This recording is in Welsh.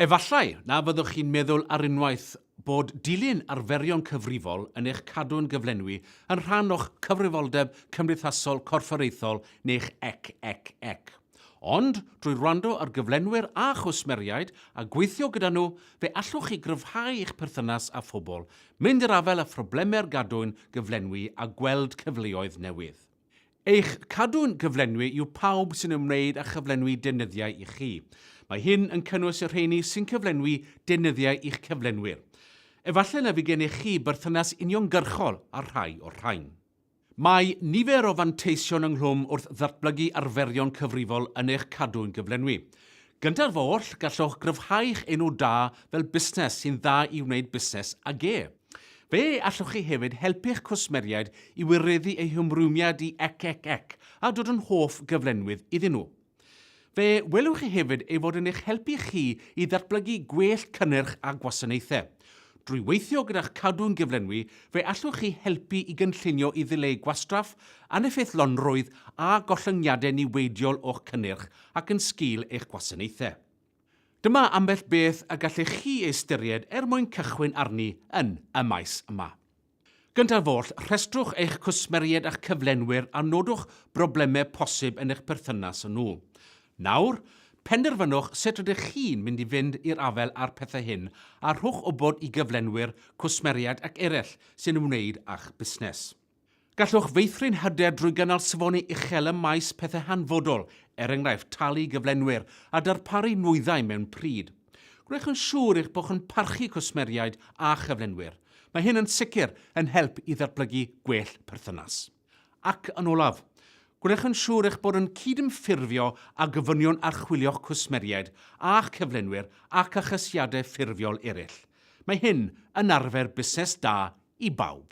Efallai na fyddwch chi'n meddwl ar unwaith bod dilyn arferion cyfrifol yn eich cadw'n gyflenwi yn rhan o'ch cyfrifoldeb cymdeithasol corfforaethol neu'ch ec ec ec. Ond, drwy wrando ar gyflenwyr a chwsmeriaid a gweithio gyda nhw, fe allwch chi gryfhau eich perthynas â phobl, mynd i'r afael â phroblemau'r gadwyn gyflenwi a gweld cyfleoedd newydd. Eich cadw'n gyflenwi yw pawb sy'n ymwneud â chyflenwi deunyddiau i chi. Mae hyn yn cynnwys y rheini sy'n cyflenwi deunyddiau i'ch cyflenwyr. Efallai na fydd gennych chi berthynas uniongyrchol â'r rhai o'r rhain. Mae nifer o fanteision ynghlwm wrth ddatblygu arferion cyfrifol yn eich cadw'n gyflenwi. Gynta'r foll, gallwch gryfhau'ch enw da fel busnes sy'n dda i wneud busnes ag e. Fe allwch chi hefyd helpu'ch cwsmeriaid i wireddu eu hymrwymiad i ec ec ec a dod yn hoff gyflenwydd iddyn nhw. Fe welwch chi hefyd ei fod yn eich helpu chi i ddatblygu gwell cynnyrch a gwasanaethau. Drwy weithio gyda'ch cadw'n gyflenwi, fe allwch chi helpu i gynllunio i ddileu gwastraff, aneffeithlonrwydd a gollyngiadau niweidiol o'ch cynnyrch ac yn sgil eich gwasanaethau. Dyma ambell beth y gallech chi ei ystyried er mwyn cychwyn arni yn y maes yma. Gyntaf oll, rhestrwch eich cwsmeriaid a'ch cyflenwyr a nodwch broblemau posib yn eich perthynas â nhw. Nawr, penderfynwch sut rydych chi'n mynd i fynd i'r afael â'r pethau hyn a rhowch wybod i gyflenwyr, cwsmeriaid ac eraill sy'n ymwneud â'ch busnes. Gallwch feithrin hyder drwy gynnal safoni uchel ym maes pethau hanfodol, er enghraifft talu gyflenwyr a darparu nwyddau mewn pryd. Gwnewch yn siŵr eich bod yn parchu cwsmeriaid a chyflenwyr. Mae hyn yn sicr yn help i ddatblygu gwell perthynas. Ac yn olaf, gwnewch yn siŵr eich bod yn cydymffurfio â gofynion archwilio'ch cwsmeriaid a'ch cyflenwyr ac achosiadau ffurfiol eraill. Mae hyn yn arfer busnes da i bawb.